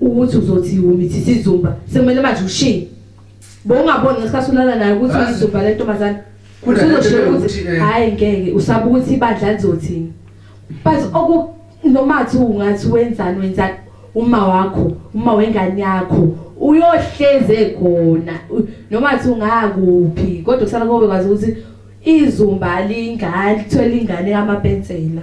ukuthi uzothi umithi sizumba sekumele manje ushiye bowungaboni ngesikhathi ulala naye ukuthi uyizumba le ntombazane uzoshiya ukuthi eh, hhayi ngeke usaba ukuthi ibandla lizothini but oku noma thi ungathi wenzani wenzani uma wakho uma wengane yakho uyohleze khona noma thi ungakuphi kodwa kusala kobe kwazi ukuthi izumba lingane lithwele ingane kamapensela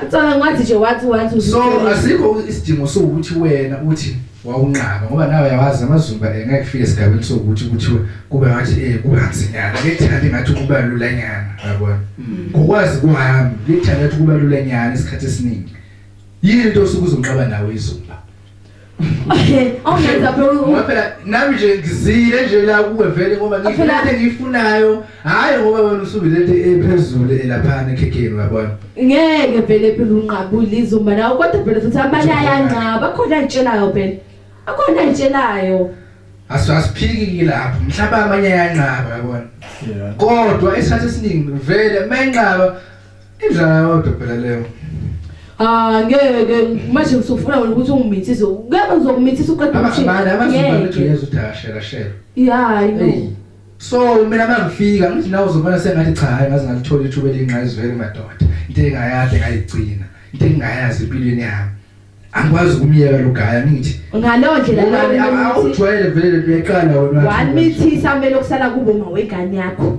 Acabanga wathi nje wathi wathi so asikho isidingo sokuthi wena uthi wawunqaba ngoba nawe yawazi amazumba engeke kufike esigabeni sokuthi kuthiwe kube ngathi eh kubanzinyana lethanda ngathi kuba lula nyana yabona mm. ngokwazi kwami lethanda ngathi kuba lula nyana isikhathi esiningi yini into osuke uzonqaba nawe izumba awungenza phela ngoba phela nami nje ngizile nje la kuwe vele ngoba ngifuna into engiyifunayo hhayi ngoba wena usuke lento ephezulu elaphana ekhekheni uyabona ngeke vele phela unqabule izumba nawo kodwa phela futhi abanye ayanqaba akhona ayitshelayo phela akhona ayitshelayo asiphiki kilapho mhlawumbe amanye ayanqaba yabona kodwa esikhathi esiningi vele uma enqaba Injala yodwa phela leyo. Ah ngeke manje usufuna wena ukuthi ungimithise. Ngeke uzokumithisa uqeda umshini. Abana abazibona ukuthi uyeza udashela shela. Yeah, I know. So mina mangifika ngithi nawe uzobona sengathi cha hayi ngaze ngalithola ithuba elingqayizwele madoda. Into engayade ngayigcina. Into engayazi empilweni yami. angikwazi ukumyeka lo gaya ngithi ngaleyo ndlela awujwayele vele leqala wena wamithisa mele okusala kubo mawegane yakho